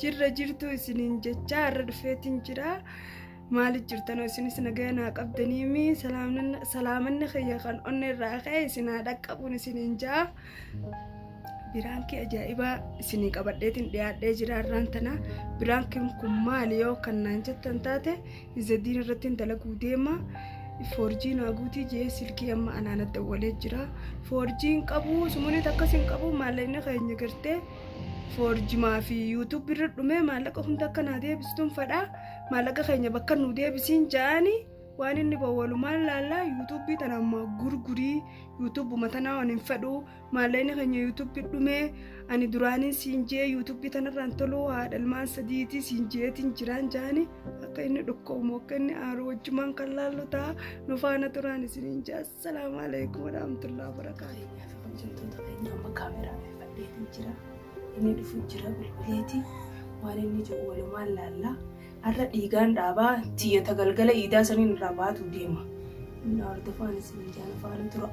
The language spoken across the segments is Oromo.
Jirra jirtuu isiniin jechaa har'a dhufeetiin jira. Maaliif jirtanoo isinis nagaya naa qabdaniimi salaamanni kiyya kan onnee irraa ka'e isin haa dhaqqabuun isiniin jaa. Biraankii ajaa'ibaa isinii qabadheetiin dhiyaadhee jira har'aan tana. Biraankiin kun maali yoo kan naan jettan taate izadiin irratti hin dalaguu deema. Foorjiin haaguutii jee silkii amma anaan adda walee jira. Foorjiin qabu sumuliit akkas hin qabu maallaqni keenya gartee. foorjimaa fi yuutuub irra dhumee maallaqa hunda akka naa deebistun fadhaa maallaqa keenya bakka nu deebisiin ja'ani waan inni bowwalumaan laallaa yuutuubii tana ammaa gurgurii yuutuubuma tanaa waan hin fedhu maallaqni keenya yuutuubii dhumee ani duraaniin siin jee yuutuubii tanarraan toluu haadha ilmaan sadiitii siin jeetiin jiraan ja'ani akka inni dhukkoomu akka inni aaru wajjumaan kan laallu ta'a nu faana turaan isiniin jaas. Salaamu alaikum warahmatullahi wabarakatuh. Hojjettoota keenya amma kaameraa fadheetiin jira. Inni dhufu jira bilbileeti. Waan inni jedhu walumaan laalla. Har'a dhiigaan dhaabaa tiyyata galgala iidaa saniin irraa baatu deema. Inni hordofaan isin jaana faana tura.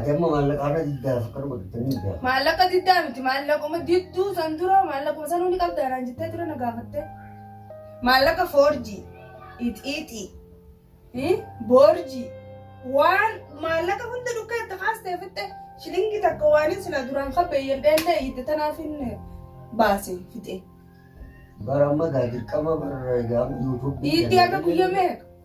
Ati amma maallaqa irra diddaaf akka dhugu jettanii hin beekan. Maallaqa diddaa miti maallaquma didduu san dura maallaquma sanuu ni qabda naan jettee ture na gaafatte. Maallaqa foorjii, ixiixii, eh, boorjii waan maallaqa hunda dhukkee itti kaastee fixxe shilingi takka waan hin sila duraan kabbeeyyan dheellee itti tanaaf hin baase fixe. Bara amma gaa dirqama bara egaa yuutuubii. Itti akka guyyaa meeqa?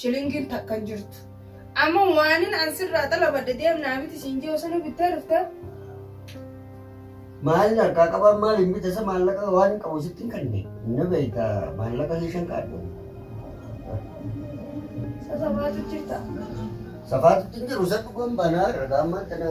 Shilingin takka hin jirtu. Amma waanin an sirraa xalabadhe deemnaa miti siin jee osoo nu bittee dhufte. Maalin harkaa qabaa maaliin bitasa maallaqa waan hin qabu sitti hin kanne. Ni beekta maallaqa keeshan kaadhe. Sasafaatu jirta. Safaatutti hin jiru isa dhugaan baanaa ragaa ammaan tana.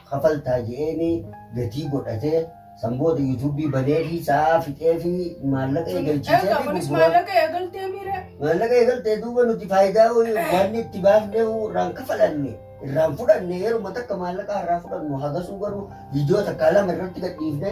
kafaltaa je'eeni gatii godhate san booda yuutuubii baneefi sa'aa fixeefi maallaqa eegalchiiseefi Egaa kunis gurguraa maallaqa eegaltee miire. maallaqa eegaltee duuba nuti faayidaa waan itti baafnee irraan kafalanne irraan fudhanne yeruma takka maallaqa irraa fudhannu hagasuu garuu viidiyoo takkaa lama irratti gadhiifne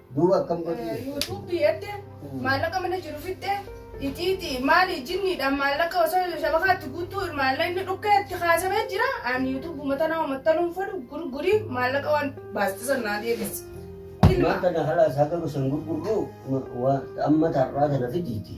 Duuba akkam godhii? Yuutuubii edde maallaqa mana jiru fixxe iciiti maali jinniidhaan maallaqa osoo shabakaatti guutuu maallaqni dhukkee itti kaasabee jira aan yuutuubu mata nama mattanuun fadhu gurgurii maallaqa waan baastisan naa deebisi. Ilma. Mata na halas haga gosan gurgurru amma tarraa tana fidiiti.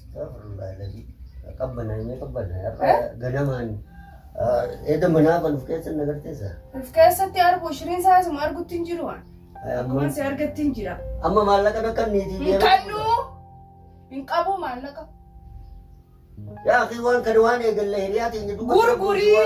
Qabbanaanyee qabbanaayee har'a ganamaan eeda manaa kan of keessa na garteessa. Of keessatti argu shiriin isaa asuma argutti hin jiru waan. Akkuma si argatti hin jira. Amma maallaqa akka niitii Hin kannu hin qabu maallaqa. Yaa akii waan kana waan eegalle hiriyaa teenya duuba. Gurgurii.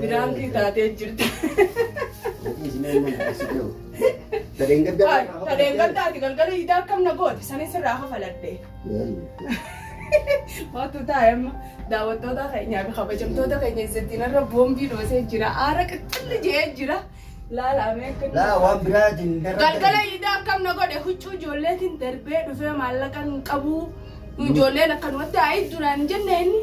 Biraankii taatee jirta. Tadeen gaddaati galgala hidaa akkam na goote sanis irraa hafaladhe. Waatu taa'e amma daawwattoota keenyaa fi kabajamtoota keenya isattiin irra boombii dhoosee jira. Aara qixxilli jee jira. Laalaamee akka Laa waan biraatiin Galgala hidaa akkam na godhe huccuu ijoolleetiin darbee dhufee maallaqa hin qabu. Ijoolleen akkanumatti haa'e duraan jenne inni.